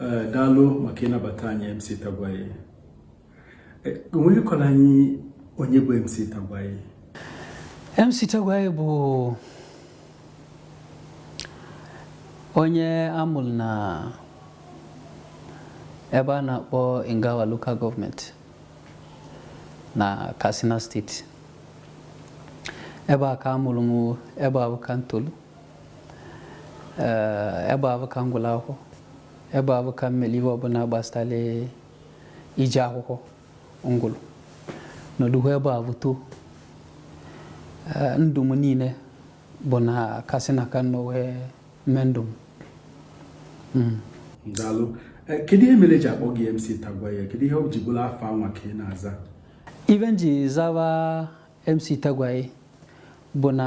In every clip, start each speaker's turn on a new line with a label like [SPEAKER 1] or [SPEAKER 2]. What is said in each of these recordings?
[SPEAKER 1] Eh, daalụ maka ịnabata anyị MC Tagwaye eh, i nwere ike kọọrọ anyị onye bụ MC Tagwaye
[SPEAKER 2] MC Tagwaye bụ onye amụrụ na ebe a na-akpọ Ingawa Local Government na Katsina State ebe a ka amụrụ m ebe ahụ ka ee ebe ahụ ka m gụrụ akwụkwọ ebe ahụ ka m mere ihe ọbụla gbasara ije akwụkwọ m gụrụ nọdụkwa ebe ahụ too ndụ m niile bụ na Katsina ka m nọ wee mee ndụ m
[SPEAKER 1] daalụ kedu ihe mere e ji akpọ gị MC Tagwaye kedu ihe o ji bụrụ afa anwa ka ị na-aza ife m ji
[SPEAKER 2] zaba MC Tagwaye bụ na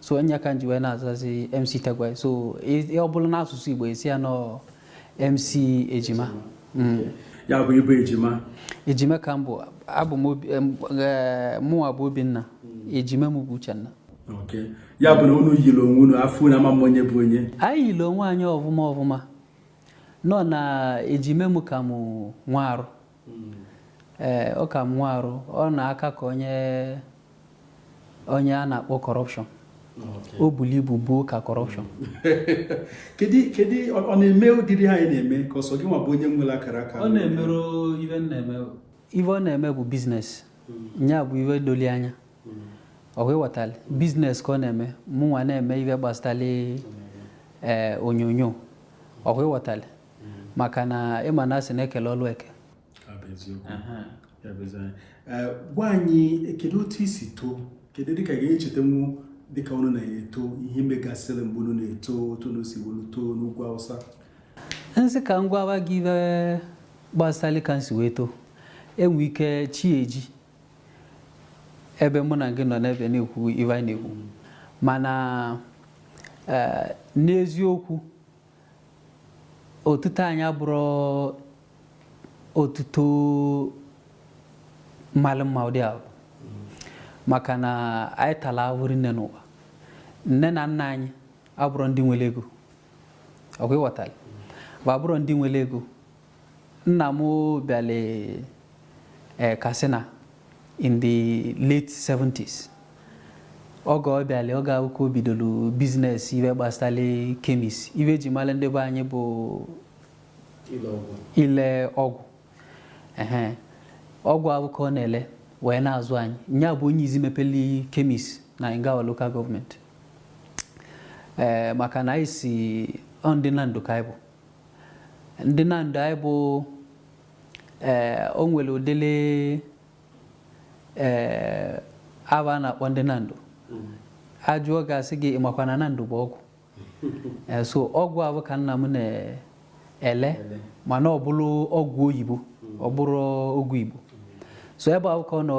[SPEAKER 2] so nya ka nji wee na-azazi MC Tagwaye so ị- ọ bụrụ n'asụsụ igbo a sị ya na ọ MC ejima Mm.
[SPEAKER 1] ya bụ ị bụ ejima ejima ka m bụ
[SPEAKER 2] abụ m obi em, eh, mụnwa bụ obinna ejima m bụ uchenna
[SPEAKER 1] ok ya bụ na unu yiri onwe unu a fụ unu a ma-ama onye bụ onye anyị yiri onwe anyị
[SPEAKER 2] ọfụma ọfụma nọ na ejime m ka m nwee arụ ee ọ ka m nwee arụ ọ na-aka ka onye onye a na-akpọ corruption o bulu ibu buo ka corruption kedu kedu
[SPEAKER 1] ọ ọ na-eme ụdịrị ihe a ị na-eme ka ọ sọ gị nwa bụ onye nwere akara aka ọ
[SPEAKER 2] na-emerọ ife m na-eme ife ọ na-eme bụ business nya bụ ife doli anya ọkwa ị ghọtali business ka ọ na-eme mụnwa na-eme ife gbasatali ee onyonyo ọkwa ị ghọtali maka na ị ma na a sị na e kelu ọlụ
[SPEAKER 1] eke gwa anyị kedu otu i si too kedu dịka ị ga-echetanwu dịka unu na-eto ihe megasịrị mgbe unu na-eto otu unu si welu too n'ugwu awụsa m
[SPEAKER 2] sị ka m gwawa gị ife gbasara ka m si wee too e nwee ike chi ejie ebe mụ na gị nọ n'ebe a na-ekwu ife anyị na-ekwu mana eh, n'eziokwu Otuto anyị abụrọ otuto malụ mma ụdị ahụ maka na anyị tara ahụhụ rinne n'ụwa nne na nna anyị abụrọ ndị nwere ego ọkwa ị ghọtara fa abụrọ ndị nwere ego Nna m bịara eh, Katsina in the late 70s oge ọ bịara oge ahụ ka o bidoro business ife gbasara chemist ife e ji mara ndị be anyị bụ ile ọgwụ ehe ọgwụ ahụ ka ọ na-ele wee na-azụ anyị nya bụ onye izi mepeli chemist na Ingawa local government ee maka na anyị si ọ ndị Nando ka anyị bụ ndị Nando anyị bụ ee o nwere ụdịrị ee aba a na-akpọ ndị Nando a jụọ a ga-asị gị ị makwa na Nando bụ ọgwụ ee so ọgwụ ahụ ka nna m na-ele mana ọ bụrụ ọgwụ oyibo ọ bụrọ ọgwụ igbo so ebe ahụ ka ọ nọ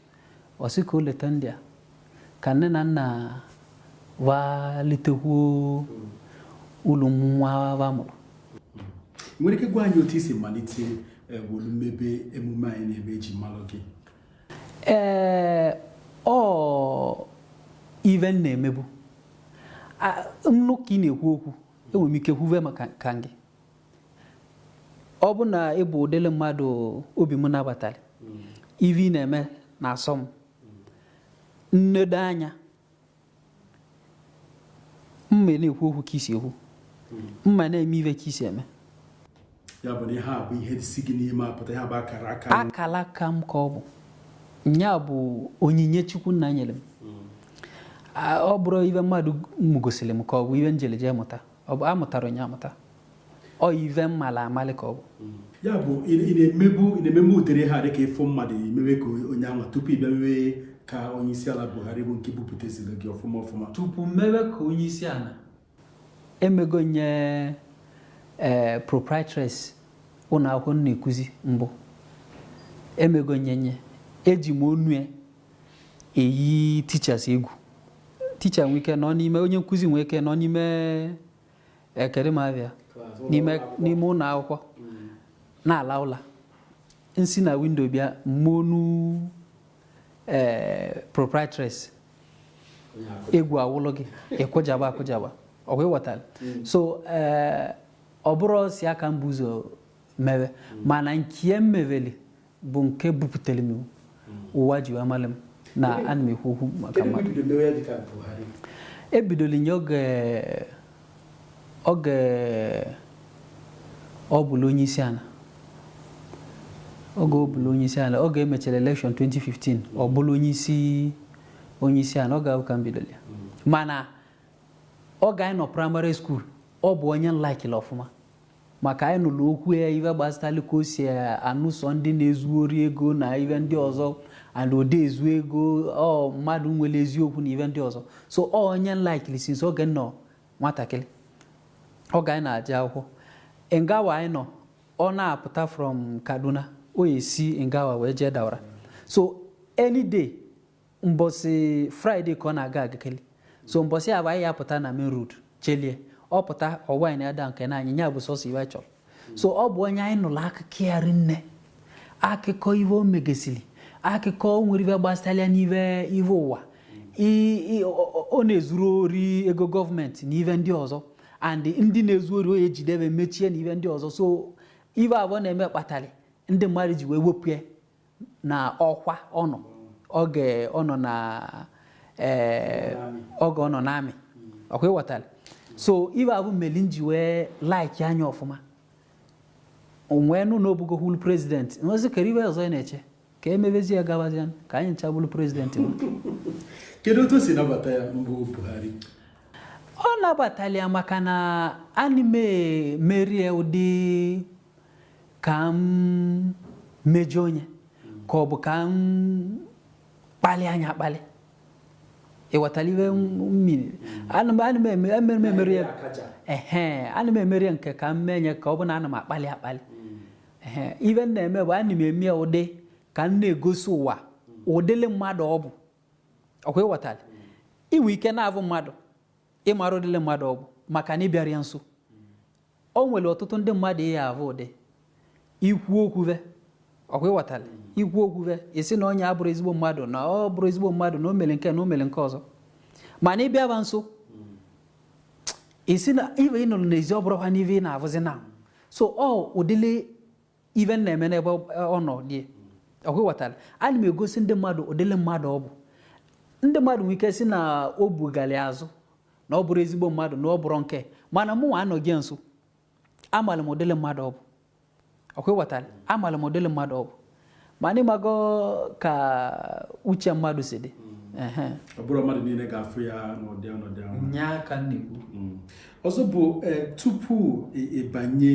[SPEAKER 2] Ọ sị ka o leta ndị a ka nne na nna va litekwuo ulu nwa va mụrụ.
[SPEAKER 1] Nwere ike gwa anyị otu i si malite eh, welu mebe emume a ị na-eme e ji malụ gị?
[SPEAKER 2] Ee, ọ ive m na-emebu A- m nụ ka ị na-ekwu okwu enwere m ike kwuve maka ka gị ọ bụ na ị bụ ụdịrị mmadụ obi m nabatara ive ị na-eme na-asọ m m nedo anya m ana-ekwu okwu ka i si ekwu m ana-eme ive ka i si eme
[SPEAKER 1] ya bụ na ihe a bụ ihe si gị n'ime apụta ya bụ akara aka akara
[SPEAKER 2] aka m ka ọ bụ nya bụ onyinye chukwu nna nyere m ọ bụrọ ive mmadụ mụgosiri m ka ọ bụ ive m jelu eje mụta Ọ bụ amụtarọ m nye amụta. Ọ ive m mala amalị ka ọ bụ. Mm. Ya
[SPEAKER 1] bụ ị na-emebu ị na-ememe ụdịrị ha dịka ị fụ mmadụ i mewe ka onye anwa tupu ị bịa mewe ka onye isi ala Buhari bụ nke bupụteziri gị ọfụma ọfụma. Tupu m mewe
[SPEAKER 2] ka onye isi ala. Emego m nye ee eh, proprietress ụlọ akwụkwọ m na-ekuzi mbụ. Emego m nye nye eji m onu ya eyi teachers egwu teacher nwee ike nọ n'ime onye nkụzi nwee ike nọ n'ime ee kedụ m ava ya n'ime n'ime ụlọ akwụkwọ na-ala ụla m si na windo bịa m mee onu ee proprietress egwu awụlụ gị ị kụjaba akụjaba ọ kwa ị ghọtara so ee ọ bụrọ sị ya ka m bu ụzọ mewe mana nke a m meweli bụ nke buputere m ụwa ji wee mara m na ana m ekwu okwu maka Kedu mgbe mmadụ i bido mewe ya dịka Buhari? ebidoro m nye oge oge ọ bụlụ onye isi ala oge ọ bụlụ onye isi ala oge e mechara elekshọn 2015 ọ bụlụ onye isi onye isi ala oge ahụ ka m bidoro ya mana oge anyị nọ praịmarị skuul ọ bụ onye m laikiri ọfụma Maka anyị nụrụ okwu ya ive gbasatali ka o si anụso ndị na-ezu ori ego na ive ndị ọzọ and o de ezu ego ọ mmadụ nwere eziokwu na ive ndị ọzọ so ọ onye m laikili since oge m nọ nwatakịrị oge anyị na-aje akwụkwọ Ingawa anyị nọ ọ na-apụta from kaduna o esi Ingawa wee jee Daura so any day mbọsị friday ka ọ na-aga agakeli so mbọsị avụ anyị ya pụta na main road chelie ọ pụta ọwa na ada nke na anyị nya bụ sọsọ ive chọrọ so ọ bụ onye anyị nụrụ akụkọ ya rinne akụkọ ive o megesiri akụkọ o nwere ive gbasara n'ive ive ụwa ọ na-ezurọ ori ego gọọmenti na ive ndị ọzọ and ndị na-ezu ori ọ ya-ejide ve mechie na ive ndị ọzọ so ive avụ ọ na-eme kpatara ndị mmadụ ji wee wepụ ya na ọkwa ọ nọ oge ọ nọ na ee oge ọ nọ n'amị ọkwa ịghọtara so ive avụ meli m ji wee like-a nya ọfụma m wee nụ na ọ bụgo hụlu prezidenti m wee sị kere ive ọzọ ị na-eche ka emebezi ya gabazie ka anyị ncha bụrụ prezidenti m kedu
[SPEAKER 1] otu o si nabata ya mbụ buhari ọ
[SPEAKER 2] nabatalị ya maka na ana m emeri ya ụdị ka m mejọọ nya ka ọ bụ ka m kpalịa nya akpali ịghọtara ive m meli ana m ana m eme- ana m emeri ya akaje ehe ana m emeri ya nke ka m mee nya ka ọ bụ na ana m akpali akpali ehe ive m na-eme bụ ana m eme ya ụdị ka m na-egosi ụwa ụdịlị mmadụ ọ bụ ọkwa ịghọtara ị nwe ike na-avụ mmadụ ị marọ ụdịlị mmadụ ọ bụ maka na ị bịarọ ya nso O nwere ọtụtụ ndị mmadụ ị ya-avụ ụdị ikwu okwu ve ọkwa ịghọtara ikwu okwu ve ị sị na onye a bụrọ ezigbo mmadụ na ọ bụrọ ezigbo mmadụ na o mere nke na o mere nke ọzọ mana ị bịa va nso ị sị na ive ị nụrụ n'ezi ọ bụrọkwanụ ive ị na-avụzi now so ọ ụdịle ive m na-eme n'ebe ọ nọ dị ọkwa ịghọtara ana m egosi ndị mmadụ ụdịle mmadụ ọ bụ ndị mmadụ nwere ike sị na o bugali azụ na ọ bụrọ ezigbo mmadụ na ọ bụrọ nke mana mụ nwa nọ ya nso amara m ụdịle mmadụ ọ bụ ọkwa ịghọtara amara m ụdịle mmadụ ọ bụ mana ị mago ka uche mmadụ si
[SPEAKER 1] dị ọ bụrọ mmadụ niile ga-afụ ya n'ụdị ọnọdụ ahụ nya ka m
[SPEAKER 2] na-ekwu mm. ọzọ bụ
[SPEAKER 1] e, tupu ị banye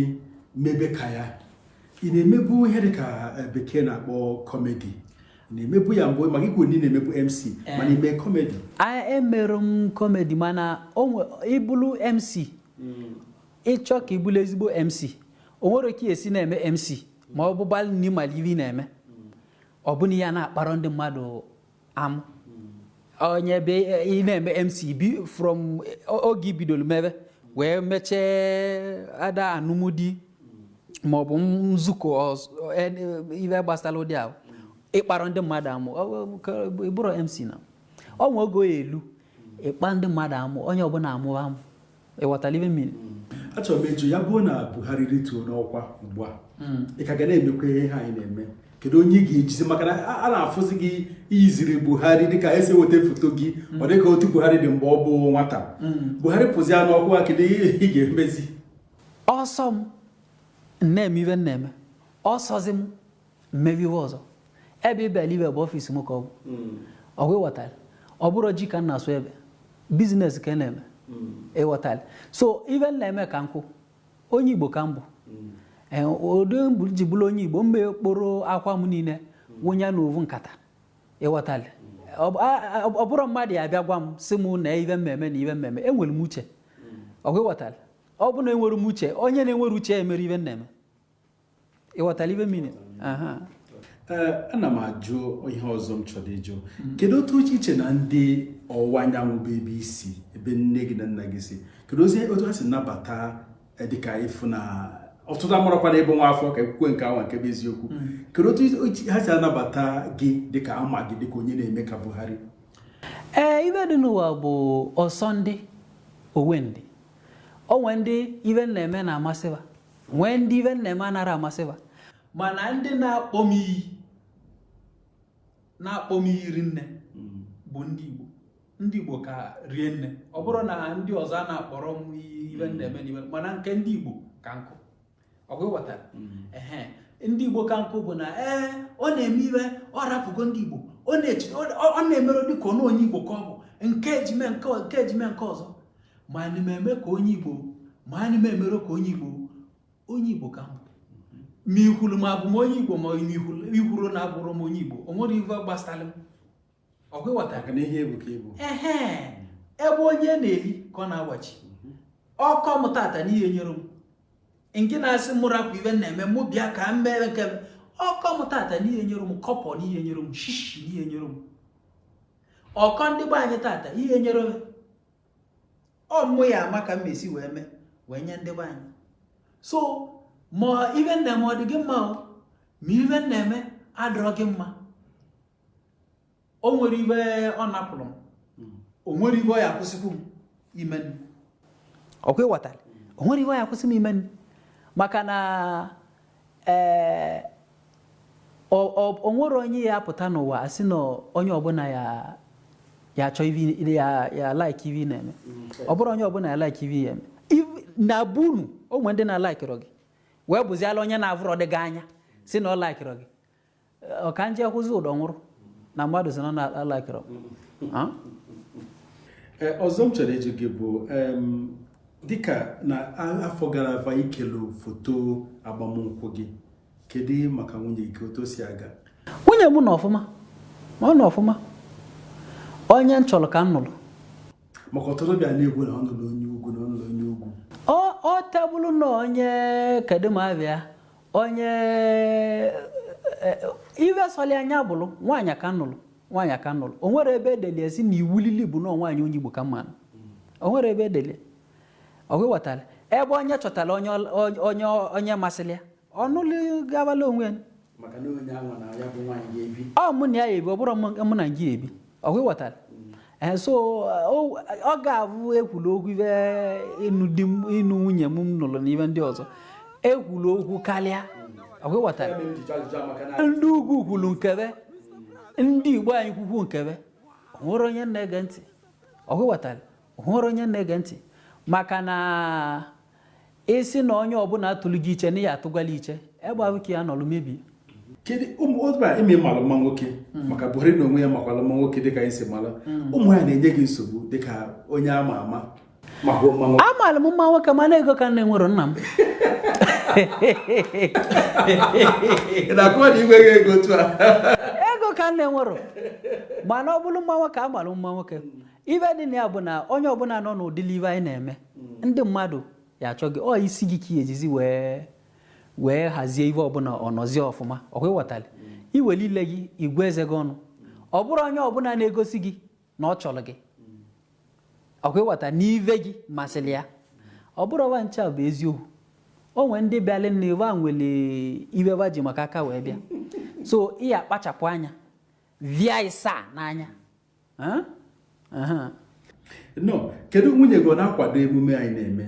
[SPEAKER 1] mebe ka ya ị na-emebu ihe dị ka e, bekee na-akpọ kọmedi na-emebu ya mbụ maka i kwu na ị na-emebu mc eh. mana ime kọmedi emerọ
[SPEAKER 2] m kọmedi mana ị bụrụ mc mm. ị chọọ ka ị bụrụ ezigbo mc o nwere ka e si na-eme mc ma ọ bụgbalị na ị malị ive ị na-eme ọ bụ na ị ya na-akpara ndị mmadụ amụ onye ebe ị na-eme mc bi from oge i bidoro mebe wee mechee either anụmdi ma ọ bụ nzukọ ọz- en- ive gbasara ụdị ahụ ị kparọ ndị mmadụ amụ ọ- ọ- ka- ị bụrọ mc na ọ nwe oge ọ ya-elu ị kpaa ndị mmadụ amụ onye ọbụna amụba amụ Ị ghọtara ive m mean? Achọrọ m ịjụ
[SPEAKER 1] ya bụrụ na Buhari rituo n'ọkwa ugbu a hmm. ị ka ga na-emekwa ihe anyị na-eme kedu onye ị ga-ejizi maka na a na-afụzi gị i yiziri Buhari dịka e si eweta foto gị hmm. ọ dịka otu Buhari dị mgbe ọ bụ nwata hmm. Buhari pụzia n'ọkwa kedu ihe ị ga-emezi ọ
[SPEAKER 2] sọ m na-eme ive m na-eme ọ sọzi m m mewe ive ọzọ ebe ị bịara ive bụ ọfịs m ka ọ bụ hmm. ọkwa ịghọtara ọ bụrọ ji ka m na-asụ ebe biznes ka m na-eme hmm. ịghọtara so ive m na-eme ka nkwụ onye igbo ka m bụ hmm. e, ụdị mbụ ji bụrụ onye igbo m ga-ekporo akwa m niile wụnye n'ovu nkata ịghọtara ọ bụrọ mmadụ ya abịa gwa m sị m na ive m na-eme na ive m na-eme enwere m uche ọkwa ịghọtara ọ bụ na enwere m uche onye na-enwerọ uche emere ive m na-eme ịghọtara ive m
[SPEAKER 1] mean ana m ajụ ihe ọzọ m chọrọ ịjụ mm. kedu otu i che na ndị ọwụwa anyanwụ bụ ebe i si ebe nne gị na nna gị si keduzi otu ha si nabata eh, dịka ị fụ na ọtụtụ amarakwana ebe nwa afọ ka ekwukwe nke awa nke bụ eziokwu mm. kedu otu ha si anabata gị dịka a ma gị dịka onye na-eme ka Buhari ee eh,
[SPEAKER 2] ive dị n'ụwa bụ ọ sọ ndị o we ndị o nwe ndị ive m na-eme na-amasịba nwee ndị ive m na-eme anarọ amasịba mana ndị na-akpọ m iyi na-akpọ m iyi rinne mm. bụ ndị Igbo ndị Igbo ka rie nne ọ bụrọ na ndị ọzọ a na-akpọrọ m iyi ive m na-eme n'ive mana nke ndị Igbo ka nkụ ọkwa ịghọtara mm. ehe ndị Igbo ka nkụ bụ na ee ọ na-eme ive ọ rapụgo ndị Igbo ọ na-emere dịka ọnụ onye Igbo ka ọ bụ nke ejime nke ejime nke ọzọ ma anyị ma eme ka onye igbo ma anyị ma emerọ ka onye igbo onye igbo ka m bụ ma i kwuru na abụ m onye igbo ma i kwuru na abụrọ m onye igbo o nwerọ ife gbasara m ọkwa ịghọtara na ihe bụ ka igbo ehe ebe onye na-eli ka ọ na-agbachi mhm. ọ kọ m taata n'ihe nyere m nke na-asị mụ rapụ ive m na-eme mụ bịa ka m mere nke ọ kọ m taata n'ihe nyere m kọbọ n'ihe nyere m shishi n'ihe nyere m ọ kọ ndị be anyị taata ihe nyere m ọ mụ ya ama ka m si wee mee wee nye ndị be anyị so ma ive m na-eme ọ dị gị mma ma ive m na-eme adịrọ gị mma o nwerọ ive ọ napụrụ m hmm. o nwerọ ive ọ ya akwụsịkwu m imenụ ọkwa ịghọtara o nwerọ ive ọ ya akwụsị m imenụ maka na Ee, ọ ọ o nwerọ onye ya apụta n'ụwa a sị na onye ọbụla ya ya achọ ive ya ya like ive ị na-eme ọ bụrọ onye ọbụla ya like ive ị ya eme Iv- na be unu o nwere ndị na-alaikirọ gị wee bụziala onye na-avụrọdị gị anya sị na ọ laikirọ gị ọ ka nje kwụzi ụdọ nwụrụ na mmadụ si nọ n'ala akịrọ
[SPEAKER 1] Ah? Ee, ọzọ m chọrọ ịjụ gị bụ em, dịka na a- afọ gara aga i kelu foto agbamnkwụ gị kedu ihe maka nwunye gị otu o si aga nwunye m
[SPEAKER 2] nọ ọfụma ma ọ nọ ọfụma onye m chọrọ ka m nụrụ maka ọtụtụ
[SPEAKER 1] bịa na-ekwu na ọ nụrụ onye ugwu na ọ nụrụ onye ugwu ọ ọ tebụlụ
[SPEAKER 2] na onye kedu ma abịa onye eh, eh, ive sọli ya nya bụrụ nwaanyị a ka m nụrụ nwaanyị a ka m nụrụ o nwerọ ebe e deli ya sị na iwu lili bụ na nwaanyị onye Igbo ka m ma-anụ o nwerọ ebe e deli ya ọkwa ịghọtara ebe onye chọtara onye ọl- onye- onye onye masịrị ya ọ nụlụ gabala onwe ya maka na onye anwa na ya bụ nwaanyị ga-ebi ọ mụ na ya ebi ọ bụrọ mụ mụ na gị ebi ọkwa ịghọtara ee so o- oge avụ e kwulu okwu ive ịnụ di m ịnụ nwunye m m nụrụ na ive ndị ọzọ e kwulu okwu karịa ọkwa ịghọtara ndị ugwu kwuru nke be ndị Igbo anyị kwukwu nke be o nwerọ onye m na-ege ntị ọkwa ịghọtara o nwerọ onye m na-ege ntị maka na ị sị na onye ọbụla atụlụ gị iche na ị ya-atụgwala iche ebe ahụ ka ị ya-anọlụ mebie kedu
[SPEAKER 1] ụmụ otu a ime malụ mma nwoke maka Buhari na onwe ya makwala mma nwoke dịka anyị si mara ụmụ ya na-enye gị nsogbu dịka onye ama ama maka mma
[SPEAKER 2] nwoke amalụ m mma nwoke mana ego ka m na-enwerọ nna
[SPEAKER 1] m ị na-akọwa na i nweghị ego otu a ego ka m
[SPEAKER 2] na-enwerọ mana ọ bụrụ mma nwoke amalụ m mma nwoke ive dị na ya bụ na onye ọbụla nọ n'ụdịli ive anyị na-eme ndị mmadụ ya-achọ gị ọ isi gị ka ị ejizi wee wee hazie ive ọbụla ọ nọzie ọfụma ọkwa ịghọtali i weli ile gị gụọ eze gị ọnụ ọ bụrọ onye ọbụla na-egosi gị na ọ chọrọ gị ọkwa ịghọta na ive gị masịrị ya ọ bụrọ wa ncha bụ eziokwu o nwee ndị bịalị na ebe a nwere ive ba ji maka ya wee bịa so ị ya-akpachapụ anya via ịsa n'anya
[SPEAKER 1] nọ kedu nwunye gị ọ na-akwado emume anyị na-eme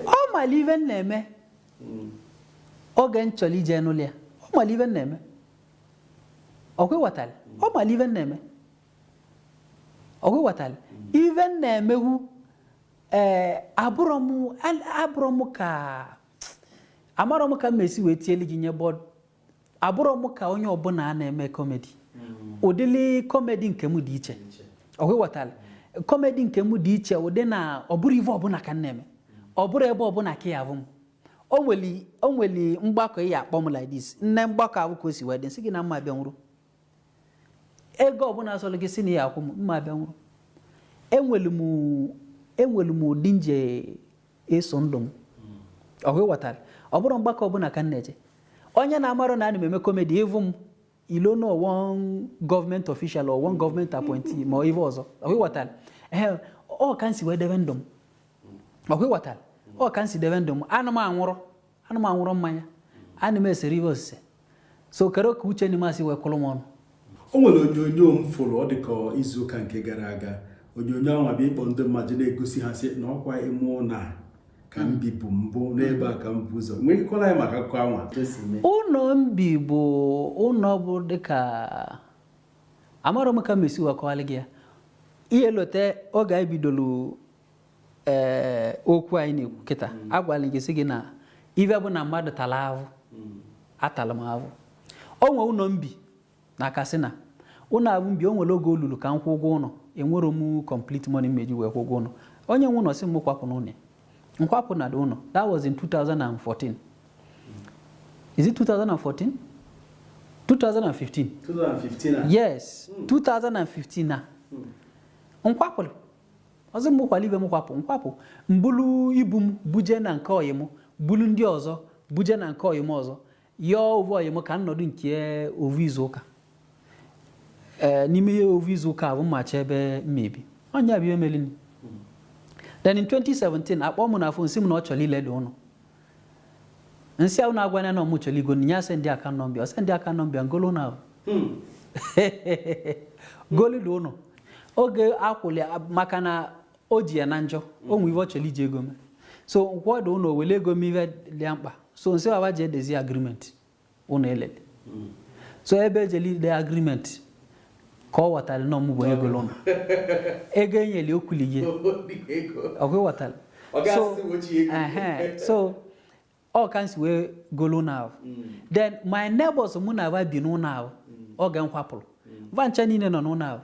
[SPEAKER 2] ọ mara ive m na-eme oge m chọrọ ije nụlụ ya ọ mara ive m na-eme ọkwa ịghọtara ọ mara ive m na-eme ọkwa ịghọtara ive m na-emeghu ee abụrọ m abụrọ m ka amarọ m ka m esi wee tielu gị nye bọọdụ abụrọ m ka onye ọbụla na-eme kọmedi ụdịrị kọmedi nke m dị iche ọkwa ịghọtara kọmedi nke m dị iche ụdị na ọ bụrọ ive ọbụla ka m na-eme ọ bụrọ ebe ọbụla ka ị ya-avụ m o nwere o nwere mgbakọ ị ya-akpọ m like this m nee mgbakọ ahụ ka o si wee dị m sị gị na mụ abịanwurọ ego ọbụla sọrọ gị sị na ị ya-akwụ m mụ abịanwurọ enwere m enwere m ụdị nje eso ndụ m ọ bụ ị ghọtara ọ bụrọ mgbakọ ọbụla ka m na-eje onye na-amarọ na ana m eme komedi ị vụ m i loo na ọ one government official or one government appointee ma ive ọzọ ọ bụ ị ghọtara ee ọ ka m si wee debe ndụ m ọ bụ ị ghọtara ọ ka m si debe ndụ m ana m aṅụrọ Ana m aṅụrọ mmanya. Ana m eserọ ive osise. So kere ka uche Nima si wee kụrụ m ọnụ. O nwere
[SPEAKER 1] onyonyo m fụrụ ọ dị ka izuụka nke gara aga. Onyonyo anwa bụ ịkpọ ndị mmadụ na-egosi ha sị na ọkwa ime ụlọ a ka m bibu mbụ n'ebe a ka m bu ụzọ. Nwere ike ịkọrọ anyị maka akụkọ anwa ka esi mee. Ụlọ
[SPEAKER 2] m bibu ụlọ abụ dịka amarọ m ka m esi wee kọwalị gị ya. Ị ya-elote oge anyị bidolu ee okwu anyị na-ekwu kịta agwala gị sị gị na ive bụ na mmadụ tara ahụ atara m ahụ o nwee ụlọ m bi na Katsina ụlọ abụ m bi o nwere oge o lulu ka m kwụ ụgwọ ụlọ enwerọ m complete money m eji wee kwụ ụgwọ ụlọ onye nwe ụlọ sị m kwapụ n'ụlọ ya. m kwapụ na the ụlọ that was in 2014 is it 2014 2015 2015 a yes 2015 ka m kwapụrụ Ọ sị m kwalụ ive m kwapụ, m kwapụ, m bulu ibu m buje na nke ọyị m, bulu ndị ọzọ buje na nke ọyị m ọzọ, yọọ ovu ọyị m ka m nọdụ nke ya ovu izu ụka. Ee, n'ime ya ovu izu ụka abụ m achọ ebe m ebi. Ọ nya bụ ive melini. Then in 2017, akpọọ m na fon sị m na ọ chọrọ ile the ụlọ. m sị ha unu agwana ya na ọ mụ chọrọ ịgọ ya sị ndị aka nọmbịa ọ sị ndị aka nọmbịa ngolo na golu the ụnọ oge akwụli maka na o ji ya na njọ o nwe ive ọ chọrọ iji ego mee so m kwụ the ụnọ wele ego mee ive dị ya mkpa so m sị va va je dezie agreement ụnọ e lele so ebe e jele ide agreement ka ọ ghọtara na ọ mụ bụ onye golo ụnọ ego enyeli okwuli gị ọ bụ ị ghọtara so ehe, so ọ ka m si wee golo ụnọ abụ then my neighbors mụ na aba bi n'ụnọ abụ oge m kwapụrụ va ncha niile nọ n'ụnọ abụ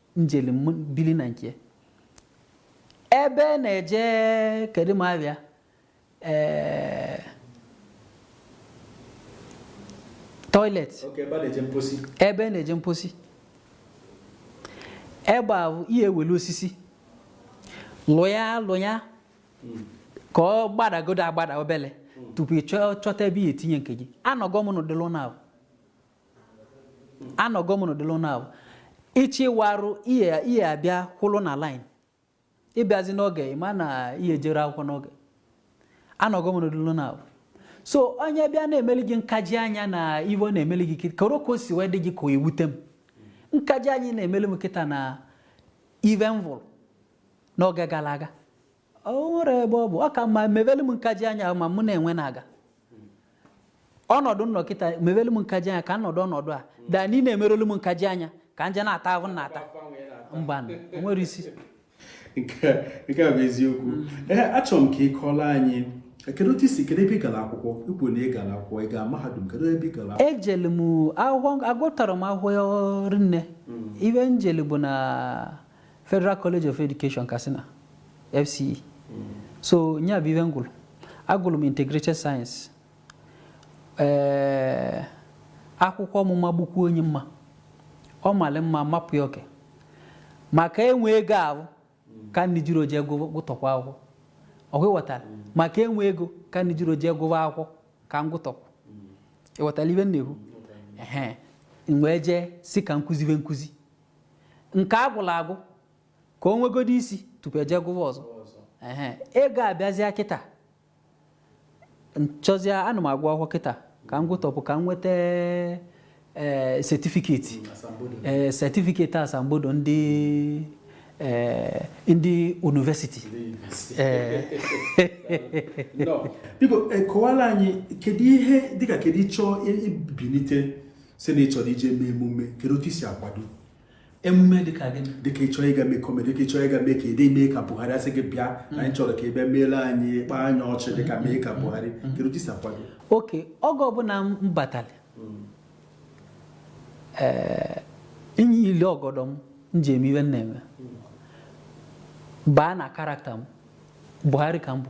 [SPEAKER 2] m jeli bili na nke ebe na-eje kedu m abịa ee toilet Oke ebe a na-eje mposi ebe na-eje mposi ebe abụ ihe e welu osisi lụ ya lụ ya ka ọ gbadagodo agbada obele tupu ị chọọ chọta ebe ị ya-etinye nke gị anọgo m n'ụdịlị ụnọ abụ anọgo m n'ụdịlị ụnọ abụ ị chọọ ịwụ arụ ị ya ị ya-abịa kwụlụ na line ị bịazie n'oge ị ma na ị ya-ejeru akwụkwọ n'oge anọgo m n'ụdịlị ụnọ abụ so onye bịa na-emeli gị nkaji anya na ive ọ na-emeli gị kịta koro ka o si wee dị gị ka o ewute m nkaji anya ị na-emeli m kịta na ive m vụrụ n'oge gara aga o nwere ebe ọ bụ ọ ka mma mevelu m nkaji anya ahụ ma mụ na-enwe na-aga ọnọdụ nkịta mevelu m nkaji anya ka nọdụ ọnọdụ a daa niine merelu m nkaji anya ka nji na-ata ahụ m na-ata mbanụ o nwere isi
[SPEAKER 1] nke nke a bụ eziokwu ee achọrọ m ka ị kọọrọ anyị kedu otu i si kedu ebe ị gara akwụkwọ i kwu na ị gara akwụkwọ ị gara mahadum kedu ebe ị gara akwụkwọ ejelu m akwụkwọ
[SPEAKER 2] agụtara m akwụkwọ rinne ibe njelu bụ na Federal College of Education Katsina FCE so nya bụ ibe ngụlụ agụlụ m integrated science ee eh, akwụkwọ mụ magbukwuo nye mma ọ malị mma mapụ ya oke maka enwe ego ahụ ka njiro je gụtọkwa akwụkwọ ọkwa ịghọtara maka enwe ego ka njiro je gụwa akwụkwọ ka m gụtọ ọkwa ịghọtara ibe m na-ekwu wee jee sị ka nkụzibe nkụzi nke a gụlụ agụ ka o nwegodo isi tupu e je gụwa ọzọ ehe ego abịazịa kịta nchọzịa ana m agụ akwụkwọ kịta ka m gụtọpụ ka m nweta ee setifiketi ee setifiketi asambodo ndị ee ndị yunivesiti
[SPEAKER 1] ee biko kọwara anyị kedu ihe dịka kedu ị chọọ ibinite sị na ị chọrọ ije mee emume kedu otu i si akwado
[SPEAKER 2] emume dịka gịnị dịka ịchọ ịga mee
[SPEAKER 1] kọmedi dịka ịchọ ịga mee ka ede mee ka Buhari a sị gị bịa na anyị chọrọ ka ị bịa meela anyị kpaa anyị ọchị dịka mee ka Buhari kedu otu i si akwado okay
[SPEAKER 2] oge ọbụla m batara ee nyili ọgọdọ m m ji eme ibe m na-eme baa na karakta m Buhari ka m bụ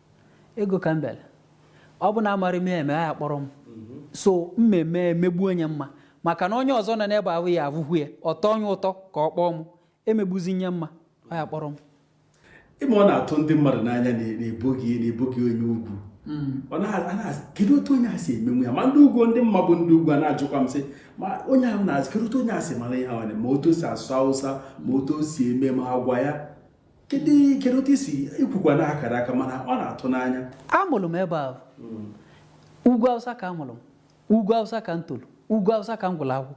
[SPEAKER 2] Ego ka m bịara. Ọ bụ na amarọ m ya eme, a ya-akpọrọ m. So m mee m emegbuo nye mma maka na onye ọzọ nọ n'ebe ahụ ya avụ ya ọ tọọ nye ụtọ ka ọ kpọọ m emegbuzi nye mma ọ ya-akpọrọ m ị ma ọ
[SPEAKER 1] na-atụ ndị mmadụ n'anya na ị bụghị na ị bụghị onye ugwu kedu otu onye a si emenwu ya ma ndị ugwu ndị m ma bụ ndị ugwu a na-ajụkwa m sị ma onye ahụ na-asị kedu otu onye a si mara ihe ahụ ma otu o si asụ awụsa ma otu o si eme ma agwa ya kedu kedu otu i si i kwukwa na akaraka mana ọ na-atụ n'anya a mụlụ m ebe
[SPEAKER 2] ahụ hmm. ugwu awụsa ka a mụlụ m ugwu awụsa ka m tolu ugwu awụsa ka m gụlụ akwụkwọ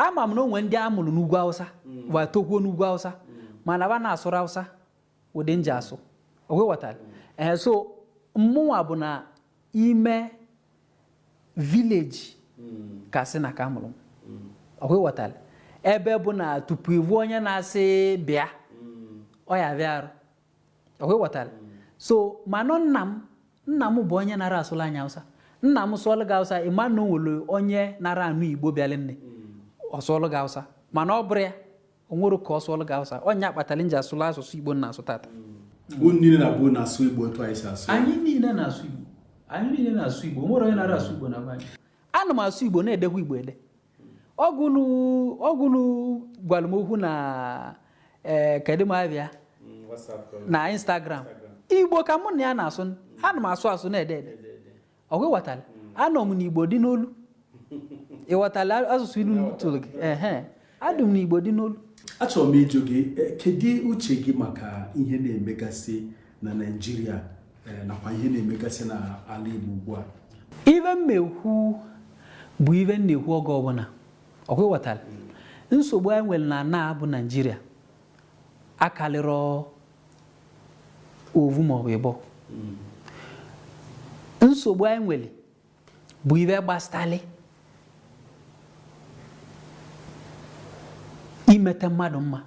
[SPEAKER 2] ama m na o nwe ndị a mụlụ n'ugwu awụsa hmm. wa tokwuo n'ugwu awụsa hmm. mana ba na-asụrọ awụsa ụdị nji asụ ọkwa ịghọtara ee eh, so mmụnwa bụ na ime vileji Katsina ka a mụlụ m ọkwa ịghọtara ebe bụ na tupu ị vụ onye na-asị bịa ọ ya-avịa arụ ọkwa ịghọtara so manụ nna m nna m bụ onye nara asụlụ anyị awụsa nna m sụọlụ gị awụsa ị ma na o nwere onye nara anụ Igbo bịalị nne ọ sụọlụ gị awụsa mana ọ bụrụ ya o nwere ka ọ sụọlụ gị awụsa ọ ya kpatalị nji asụlụ asụsụ igbo na-asụ tata unu niile
[SPEAKER 1] na-abụ na-asụ igbo otu anyị si asụ anyị niile na-asụ
[SPEAKER 2] igbo anyị niile na-asụ igbo nwere onye na-ara asụ igbo na anyị ana m asụ igbo na-edekwa igbo ede ọgwụnụ gwara m okwu na ee eh, kedu m abịa mm, na instagram igbo ka mụ na ya na-asụ ana m asụ asụ na-ede ede ọkwa ịghọtala anọ m n'igbo dị n'olu ịghọtala asụsụ ilu tụrụ gị ehe adị m n'igbo dị n'olu achọrọ m ịjụ
[SPEAKER 1] gị e, kedu uche gị maka ihe na-emegasị na naijiria e, nakwa ihe na-emegasị n'ala igbo ugbu a ive
[SPEAKER 2] m na-ekwu bụ ive m na-ekwu oge ọbụla ọkwa ịghọtala nsogbu anyị nwere na ana bụ naijiria akalịrọ ovu maọbụ ịbọ nsogbu anyị nwere bụ ive gbasatalị imete mmadụ mma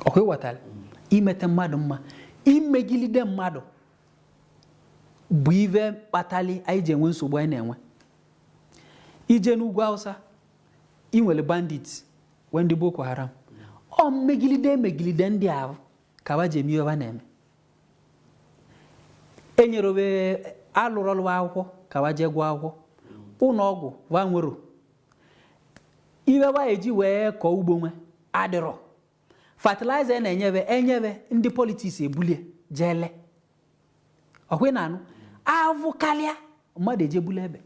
[SPEAKER 2] ọkwa ịghọtara imete mmadụ mma imegilide mmadụ bụ ive kpatalị anyị ji enwe nsogbu anyị na-enwe i jee n'ugwu Awụsa i nwere bandit nwee ndị boko haram ọ mmegilide e megilide ndị a ka ba ji eme ive ba na-eme enyerọ be alụrọlụ ba akwụkwọ ka ba jee gụọ akwụkwọ ụnọ ọgwụ wa enwerọ ive wa eji wee kọọ ugbo nwe adịrọ fertilizer a na-enye be e nye be ndị politics ebulie jee lee ọkwa ị na-anụ avụ kalịa mmadụ eje bulu egbe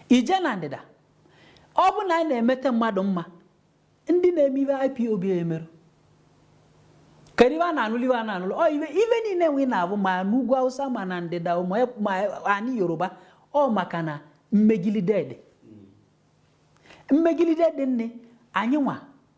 [SPEAKER 2] i jee na ndịda ọ bụ na anyị na-emete mmadụ mma ndị na-eme ive IPOB emerọ kedu ive wa na-anụlụ ive a na-anụlụ ọ ive ive niine nwe ị na-avụ ma n'ugwu Awụsa ma na ndịda ma e, anị Yoruba ọ maka na mmegilide dị mmegilide dị nne anyị nwa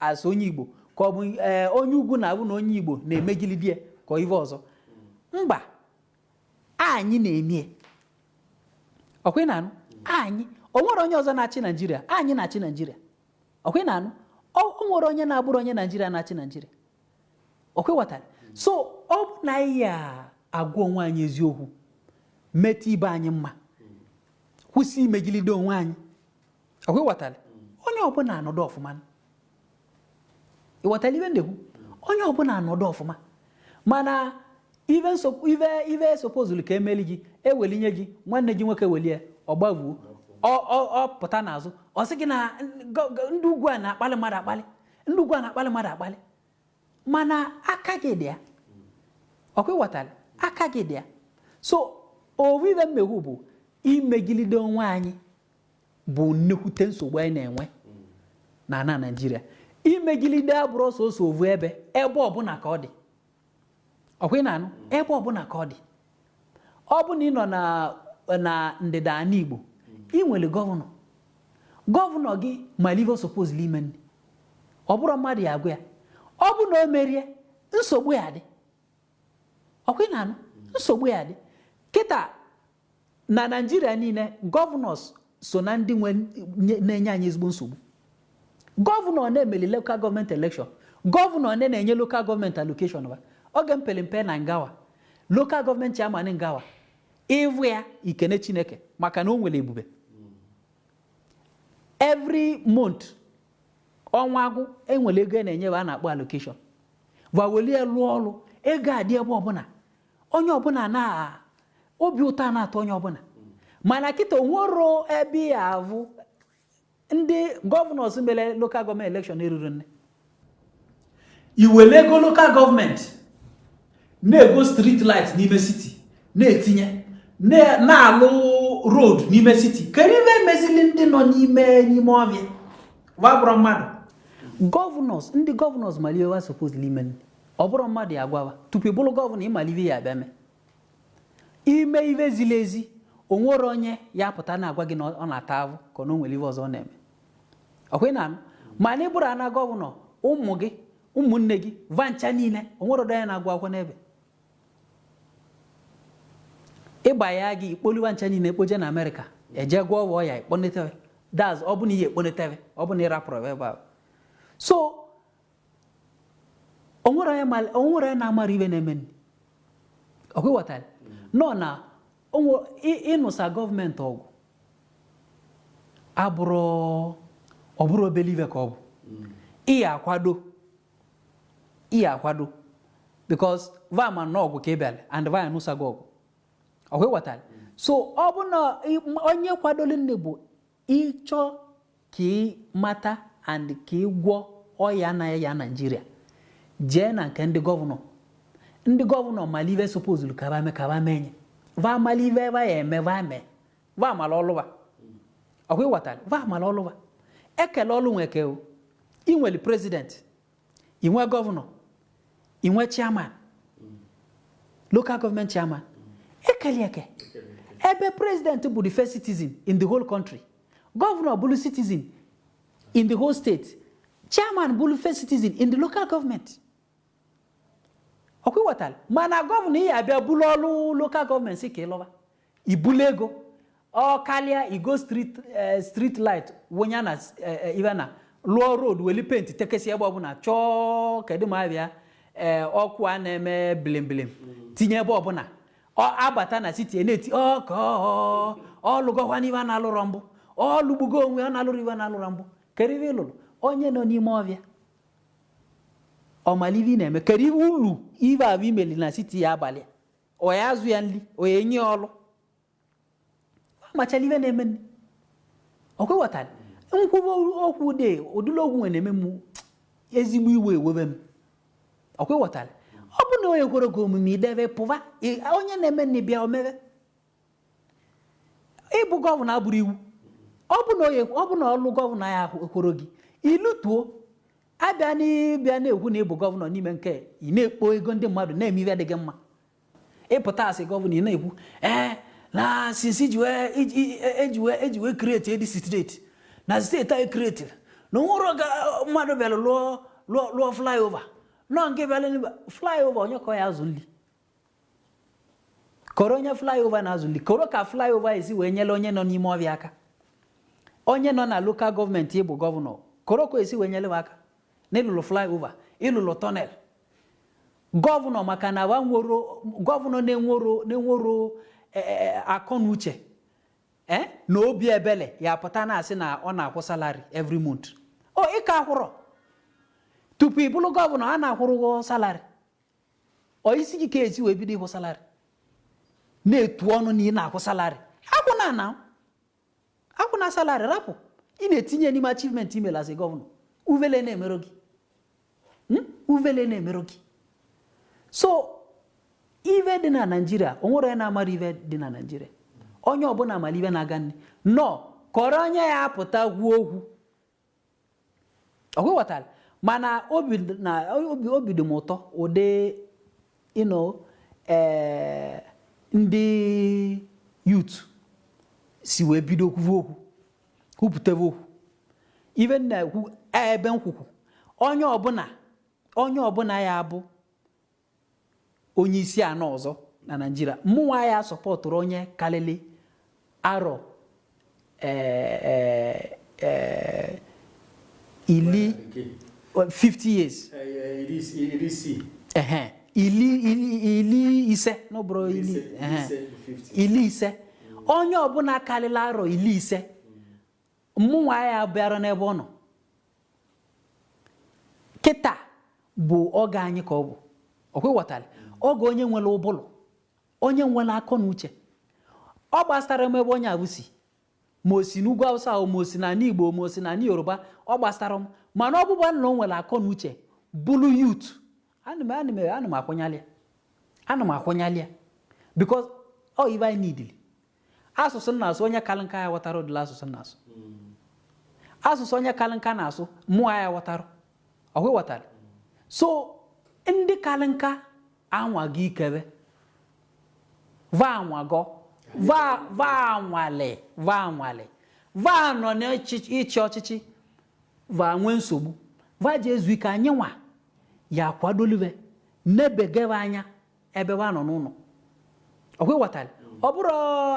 [SPEAKER 2] as onye Igbo ka ọ bụ ee eh, onye ugwu na-avụ na onye Igbo na-emegilide ya ka ive ọzọ mba anyị na-emie ọkwa ị na-anụ anyị o nwere onye ọzọ na-achị Naijiria anyị na-achị Naijiria ọkwa ị na-anụ o nwere onye na-abụrọ onye Naijiria na-achị Naijiria ọkwa ịghọtara so ọ bụ na anyị ya agwa onwe anyị eziokwu mete ibe anyị mma kwụsị imegilide onwe anyị ọkwa ịghọtara onye ọbụla anọdụ ọfụma ịghọtara ive m na-ekwu onye ọbụla anọdụ ọfụma mana ive ive ive sopozulu ka e meli gị e weli nye gị nwanne gị nwoke welie ọ gbavuo ọ pụta n'azụ ọ sị gị na ndị ugwu a na-akpali mmadụ akpali ndị ugwu a na-akpali mmadụ akpali mana aka gị dị ya ọkwa ịghọtara aka gị dị ya so ovu ive m na-ekwu bụ imegilide onwe anyị bụ nnekwute nsogbu anyị na-enwe na ana Naijiria imegilide abụrọ sọsọ ovu ebe ebe ọbụla ka ọ dị ọkwa ị na-anụ ebe ọbụla ka ọ dị ọ bụ na ị nọ na ndịda ana Igbo ị nwere gọvanọ gọvanọ gị malụ ive supposed ime nni ọ bụrọ mmadụ ya-agwa ya ọ bụ na o merie nsogbu ya-adị ọkwa ị na-anụ nsogbu ya-adị kịta Na Naịjirịa niile, governors so na ndị nwe nye- na-enye anyị ezigbo nsogbu. Gọvanọ one meli local gọọmenti elekshọn? Gọvanọ one na-enye local gọọmenti allocation ba? Oge m pere mpe na Ngawa, local gọọmenti chairman Ngawa, ị vụ ya i kene Chineke maka na o nwere ebube. Every month, ọnwa agwụ, e nwere ego a na-enye ba a na-akpọ allocation. Va welụ ya lụọ ọrụ, ego adị ebe ọbụla. onye ọbụla na obi ụtọ a na-atọ onye ọbụla mana kịta o nwero ebe ị ya-avụ ndị gọvanọs mere lokal gọọmenti elekshọn eruro nne i were ego lokal gọọmenti na-ego street light n'ime city na-etinye na-alụ road n'ime city kedu ive e mezili ndị nọ n'ime n'ime ọvịa va abụrọ mmadụ gọvanọs ndị gọvanọs malụ ive va supposed ime Ọ bụrọ mmadụ ya-agwa va tupu ị bụrụ gọvanọ ị mara ive ị ya-abịa mee ime ive ziri ezi o nwere onye ya-apụta na-agwa gị na ọ na-ata avụ ka na o nwere ive ọzọ ọ na-eme ọkwa ị na-anụ ma na ị bụrụ ana gọvanọ ụmụ gị ụmụnne gị va ncha niile onwere ọdọ ya na-agụ akwụkwọ n'ebe ịgba ya gị i kpolu va ncha niile ekpoje na amerịka eje gwọọ ọgwụ ọya ikponetebe daz ọ bụna ihe ekponetebe ọ bụna ịrapụrụ ebe ahụ so o nwere onye ma- o nwere onye na-amara ive na-emenụ ọkwa ịghọtara nọ na o nwe- ị- ịnụsa gọọmenti ọgụ abụrọ ọ bụrọ obele ive ka ọ bụ ị ya akwado ị ya akwado because va ma na ọgụ ka ị bịara and va ya-anụsa gị ọgụ ọkwa ịghọtara so ọ bụ na ị- onye kwadoro nne bụ Ị chọ ka ị mata and ka ị gwọ ọya na-aya Nigeria, jee na nke ndị gọvanọ. Ndị gọvanọ mara ive supposed ka va me ka va menye. Va mara ive va ya-eme va mee. Va mara ọlụ va. Ọkwa ịghọtara? Va mara ọlụ va. E kele ọlụ nwa eke o. Ị nwere president. i nwe gọvanọ i nwe chairman local gọọmenti chairman e keli e eke ebe president bụ the first citizen in the whole country gọvanọ bụrụ citizen in the whole state chairman bụrụ first citizen in the local government ọkwa ịghọtara mana gọvanọ ị ya-abịa buru ọrụ local gọọmenti sị ka ị lụba i bulu ego ọ karịa i go street eh, street light wụnya na s- eh, eh, ive na lụọ road weli penti tekesi ebe ọbụla chọọ kedu ma ive a eh, ọkụ a na-eme bilimbilim tinye ebe ọbụla ọ abata na siti na-eti ọ ọ lụgokwanụ ive a na-alụrọ mbụ ọ lụgbugo onwe ya na-alụrụ ive a na-alụrọ mbụ kedu ive ị lụlụ onye nọ n'ime ọvịa ọ malị ive na-eme kedu ive ulu ive avụ i meli na siti ya-abalị a? Ọ ya-azụ ya nli, ọ ya-enye ya ọlụ. Ọ machalị ive na-emeni. Ọkwa ịghọtara. M kwuba okwu dị ụdịrị okwu nwere na-eme m ezigbo iwe ewebe m. Ọkwa ịghọtara. Ọ bụ na ọ ya ekwero gị omume i deve pụva, ị- onye na-emeni bịa o meve. ịbụ gọvanọ abụrọ iwu ọ bụ na onye ọ bụ na ọlụ gọvanọ ya ahụ ekwero gị i lutuo abịa n'ịbịa na-ekwu na ị bụ gọvanọ n'ime nke ị na-ekpo ego ndị mmadụ na-eme ihe adịghị mma ị pụta asị gọvanọ ị na-ekwu ee na sinsi e ji wee e ji wee kreti dis steeti na steeti anyị kreti na o nwero mmadụ bịara lụọ lụọ lụọ flyover na ọ gị bịara n'ebe flyover onye ka ọ ya-azụ nli koro onye flyover na-azụ nli koro ka flyover si wee nyere onye nọ n'ime ọvịa aka onye nọ na lokal gọọmenti ị bụ gọvanọ koro ka i si wee nyere aka n'ị lụlụ flyover ị lụlụ tọnel gọvanọ maka na gọvanọ na-enwero na-enwero e, e, e, akọ na uche na obi ebele ya pụta na-asị na ọ na-akwụ salari every month o ịka akwụrọ tupu ị bụrụ gọvanọ a na-akwụrụ ụgwọ salari ọ isi gị ka e si wee bido ịkwụ salarị na-etu ọnụ na ị na-akwụ salarị akwụna na akwụna salarị rapụ ị na-etinye n'ime achivementi i meli as gọvanọ uvele na-emero gị hmm? uvele na-emero gị so ive dị na naijiria o nwere onye na-amarọ ive dị na naijiria onye ọbụla mara ive na-aga nne nọ kọrọ onye ya-apụta kwuo okwu ọkwa ị ghọtara mana obi na obi obi dị m ụtọ ụdị you know eh, ndị yut si wee bido kwuve okwu kwupụtave okwu ive m na-ekwu ebe nkwukwu onye ọbụla onye ọbụla ya-abụ onye isi ana ọzọ na Naijiria mụnwa ya-asọpọtụrụ onye kalịlị arọ eh, eh, eh, ili 50 years ehe ili ili ili ise n'ọ bụrọ ili Ise, ehe, ise, 50. ili ise onye ọbụla kalịlị arọ ili ise Mụnwa ya abịara n'ebe ọ nọ. Kịta bụ oge anyị ka ọ bụ. Ọkwa ịghọtara? Oge onye nwere ụbụlụ, onye nwere akọ na uche. Ọ gbasara m ebe onye abụ si. Ma o si n'ugwu Awụsa o, ma o si n'anị Igbo, ma o si n'anị Yoruba, ọ gbasara m. Mana ọ bụba na o nwere akọ na uche, bụlụ youth, Ana m akwụnyalị ya ana m akwụnyalị ya because ọ ive anyị needili asụsụ m na-asụ onye kalị nka ya aghọtarọ ụdịlị asụsụ m na-asụ asụsụ onye kalị nka na-asụ mụwa ya aghọtarọ ọkwa ịghọtara so ndị kalị nka anwago ike be va anwago va anwalị va nọ n'ịchị ọchịchị va enwe nsogbu va je ezu ike anyị nwa ya akwadolive nebegebe anya ebe wa nọ n'ụnọ ọkwa ịghọtara ọ bụrọ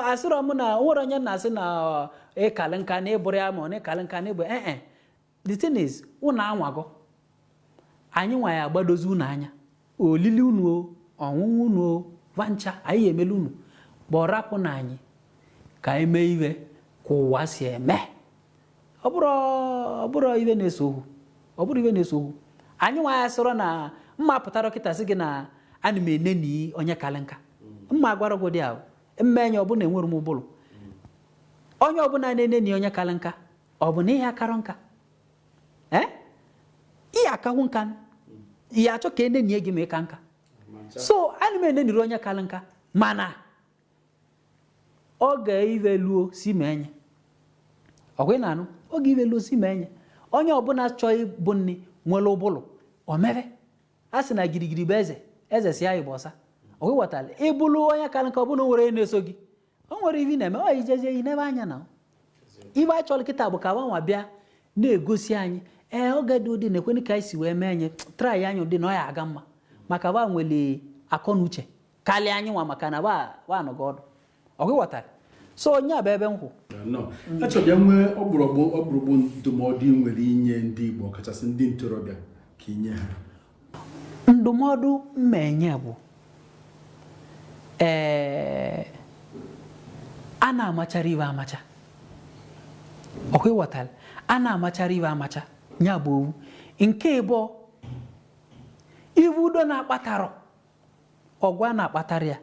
[SPEAKER 2] asịrọ m na o nwere onye na-asị na ịkalị nka na ịbụ ọrịa ma ọ na ịkalị nka na ịbụ ee eh, eh. the thing is unu anwago anyị nwa ya agbadozi unu anya olili unu o ọṅụṅụ unu o vancha anyị ya emelu unu but rapụnụ anyị ka anyị mee ive ka ụwa si eme ọ bụrọ ive na-ese okwu ọ bụrọ ive na-ese okwu anyị nwa ya sọrọ na mma pụtarọ kịta sị gị na ana m eneni onye kalị nka mma gwarọ gị ụdị ahụ m menye ọ bụ na enwerọ m ụbụlụ onye ọbụla na-eneni onye kalị nka ọ bụ na ị ya akarọ nka ee ị ya akakwu nka ị ya achọ ka e nenie gị ma ị kaa nka so ana m enenirọ onye kalị nka mana oge ive luo si menye ọkwa ị na-anụ oge ive luo si menye onye ọbụla chọọ ịbụ nri nwere ụbụlụ omebe a sị na girigiri bụ eze eze si anyị bụ ọsa ọkwa ịghọtara ị bụrụ onye kalị nka ọbụla o nwere onye na-eso gị o nwere ive ị na-eme ọ ijezie i nebe anya na ive anyị chọrọ kịta bụ ka vanwa bịa na-egosi anyị ee oge dị ụdị na-ekwenụ ka anyị si wee menye try anyị ụdị na ọ ya aga mma maka va nwere akọ na uche kalị anyịnwa maka na wa anọgo ọdụ ọkwa ịghọtara so ọ ya bụ ebe m kwụ nọ
[SPEAKER 1] achọbịa nwee ọgbụrụgbụ ọgbụrụgbụ ndụmọdụ ị nwere inye ndị Igbo ọkachasị ndị ntorobịa ka ị nye ha
[SPEAKER 2] ndụmọdụ mma enye bụ ee a na-amachara ive amacha ọkwa ịghọtara a na-amachara ive amacha ya bụ ovu nke ịbụọ ive udo na-akpatarọ ọgụ a na-akpatara ya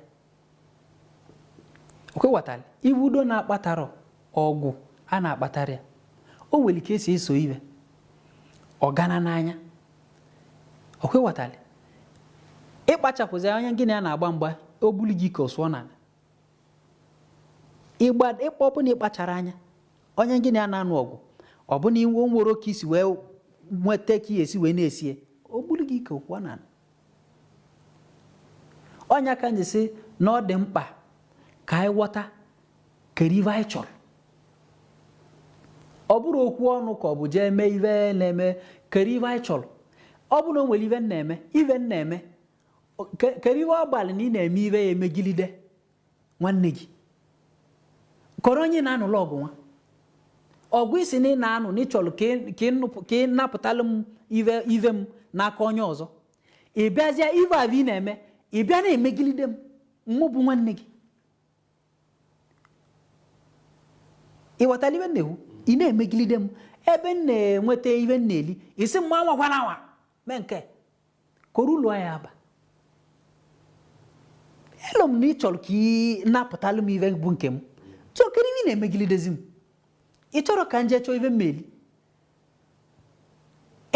[SPEAKER 2] ọkwa ịghọtara ibu udo na-akpatara ọgụ a na-akpatara ya o nwere ike esi eso ive ọgana n'anya ọkwa ịghọtara ịkpachapụzi onye gị na ya na-agba mgba o buli gị ka ọ sụọ n'ala ịgba ịkpọ ọ bụ na ịkpachara anya onye gị na ya na-anụ ọgụ ọ bụ na i nwerọ ka i si wee nweta ka esi wee na-esie o buli gị ka ọ kụọ n'ala Ọ nya ka m ji sị na ọ dị mkpa ka anyị ghọta keru ive anyị chọrọ ọ bụrụ okwu ọnụ ka ọ bụ jee mee ive na-eme keru ive anyị chọrọ ọ bụ na o nwere ive na-eme ive na-eme keru ive ọ gbalị na ị na-eme ive ya emegilide Nwanne gị. Keru onye na-anụlụ ọgụ nwa. Ọgụ ị sị na ị na-anụ na ị chọrọ ka ị- ka ị nụpụ- ka ị napụtalụ m ive ive m n'aka onye ọzọ. Ị bịazịa ive avụ ị na-eme, ị bịa na-emegilide m, mụ bụ nwanne gị. Ị ghọtara ive m na-ekwu? Ị na-emegilide m ebe m na-enweta ive m na-eli, ị sị m anwakwana anwa mee nke. keru ulu ọ ya-abalụ m na ị chọrọ ka ị napụtalụ m ive bụ nke m so keru ive ị na-emegilidezi m ị chọrọ ka m jee chọọ ive m ma-eli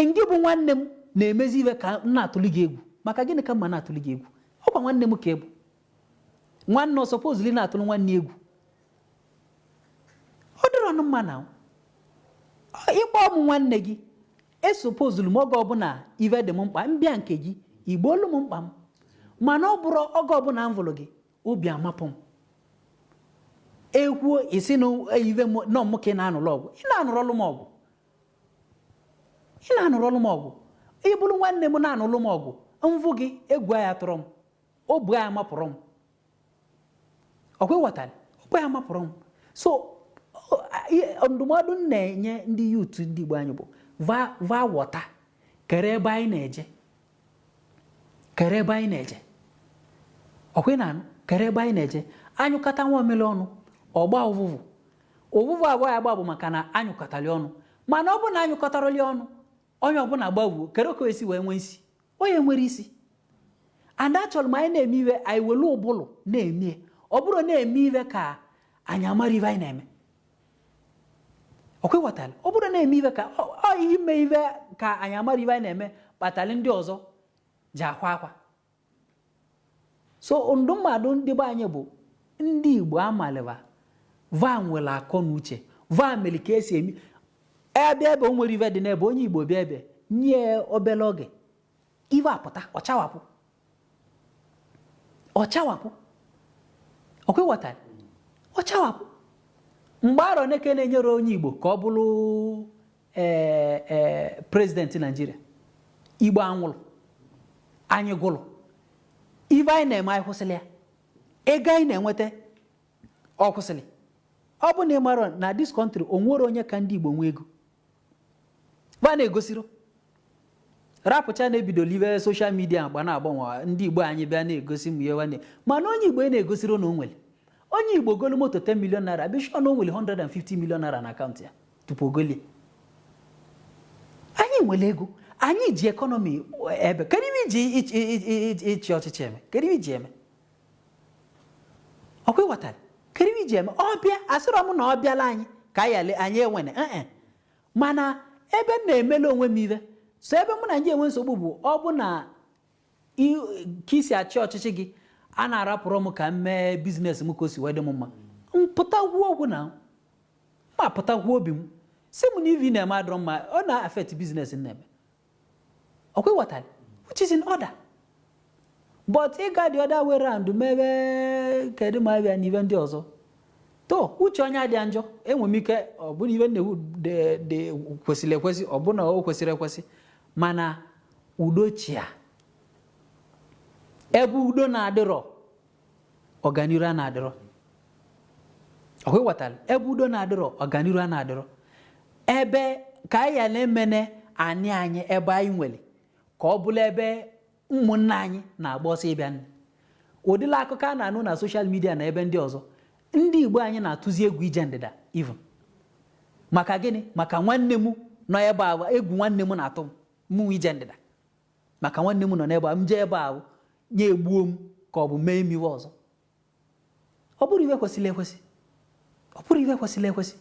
[SPEAKER 2] ngị bụ nwanne m na-emezi ive ka m na-atụli gị egwu maka gịnị ka m ma na-atụli gị egwu ọkwa nwanne m ka ị bụ nwanne o supposili na-atụrụ nwanne egwu ọ dịrọnụ mma na ịkpọ m nwanne gị E supposulu m oge ọbụna ive dị m mkpa, m bịa nke gị, i gboolu m mkpa m. Mana ọ bụrụ oge ọbụna m vụlụ gị, obi amapụ m. E kwuo, ị sị na ive m, na ọ mụ ka ị na-anụlụ ọgụ. Ị na-anụrọlụ m ọgụ. Ị na-anụrọlụ m ọgụ. Ị bụrụ nwanne m na-anụlụ m ọgụ, m vụ gị, egwu aya-atụrọ m. Obi aya-amapụrọ m. ọkwa ịghọtara obi aya-amapụrọ m so ndụmọdụ m na-enye ndị youth ndị Igbo anyị bụ va wọta kere ebe anyị na-eje kere ebe anyị na-eje ọkwa ị na-anụ kere ebe anyị na-eje anyụkọta nwamịlị ọnụ ọ gbaa ụvụvụ ụvụvụ avụ ọ ya-agba bụ maka na anyụkọtalị ọnụ mana ọ bụ na anyụkọtarọlị ọnụ onye ọbụla gbavuo kere ka o esi wee nwee isi ọ ya-enwerọ isi and achọrọ m anyị na-eme ive anyị were ụbụrụ na-eme ya. ọ bụrọ na-eme ive ka anyị amarọ ive anyị na-eme ọkwa ịghọtara ọ bụrọ na-eme ive ka ọ ọ ime ive ka anyị amarọ ive anyị na-eme kpatalị ndị ọzọ ji akwa akwa so ndị mmadụ ndị be anyị bụ ndị igbo amalị ive va nwere akọ na uche va mere ka esi eme ive ebe o nwere ive dị n'ebe onye igbo bịa ebe nye ya obere oge ive apụta ọchawapụ ọchawapụ ọkwa ịghọtara ọchawapụ mgbe arọ na-eke na-enyere onye igbo ka ọ bụrụ ee ee president Nigeria igbo anwụrụ anyị gwụrụ ive anyị na-eme anyị kwụsịrị ya ego anyị na-enweta ọ kwụsịrị ọ bụ na ị mara na this country o nwere onye ka ndị igbo nwee ego ba na-egosiro rapụcha na-ebidola ive social media agba na-agbanwe ndị igbo anyị bịa na-egosi m ya nwanne mana onye igbo ị na-egosiro na o nwere onye igbo golu moto 10 million naira be sure na o nwere 150 million naira na account ya Tupu o golie. Anyị nwere ego, anyị ji economy ebe. Kedu ive e ji ị- ị- ị- ị- ị- ịchị ọchịchị eme? Kedu ive e ji eme? Ọkwa ịghọtara? Kedu ive e ji eme? Ọ bịa, asịrọ m na ọ bịala anyị ka anyị ale- anyị enwene. Eh, eh. Mana ebe m na-emele onwe m ive, so ebe mụ na gị enwe nsogbu bụ ọ bụ na I- ka i si achị ọchịchị gị a na-arapụrọ m ka m mee business m ka o si wee dị m mma m pụta kwuo okwu na m pụta kwuo obi m sị m na ive na-eme adịrọ mma ọ na-affect business m na-eme ọkwa ịghọtara which is in order but ị ga the other way round mebe kedu ma abịa n'ive ndị ọzọ to uche onye adịa njọ enwe m ike ọ bụrụ ive nnewu dị dị kwesịrị ekwesị ọ bụrụ na o kwesịrị ekwesị mana Udo chịa. Ebe udo na-adịrọ, ọganiru a na-adịrọ. Ọkwa ịghọtara ebe udo na-adịrọ ọganiru a na-adịrọ ebe ka anyị ghara emene anị anyị ebe anyị nwere ka ọ bụrụ ebe ụmụnna anyị na-agba ọsọ ịbịa nne ụdịla akụkọ a na-anụ na social media na ebe ndị ọzọ ndị Igbo anyị na-atụzi egwu ije ndịda even maka gịnị maka nwanne m nọ ebe a egwu nwanne m na-atụ m Mụnwa ije ndịda maka nwanne m nọ n'ebe a, m jee ebe ahụ onye egbuo m ka ọ bụ mee m ive ọzọ. Ọ bụrọ ive kwesịrị ekwesị. Ọ bụrọ ive kwesịrị ekwesị.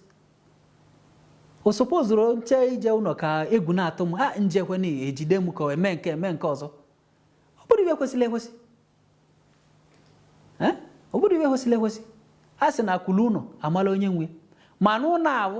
[SPEAKER 2] O sopozurọ m chee ije ụnọ ka egwu na-atụ m a njekwe na ejide m ka o eme nke eme nke ọzọ. Ọ bụrọ ive kwesịrị ekwesị. Eh? Ọ bụrọ ive kwesịrị ekwesị. A sị na akwụrụ ụnọ amala onye nwe. Ma n'ụnọ ahụ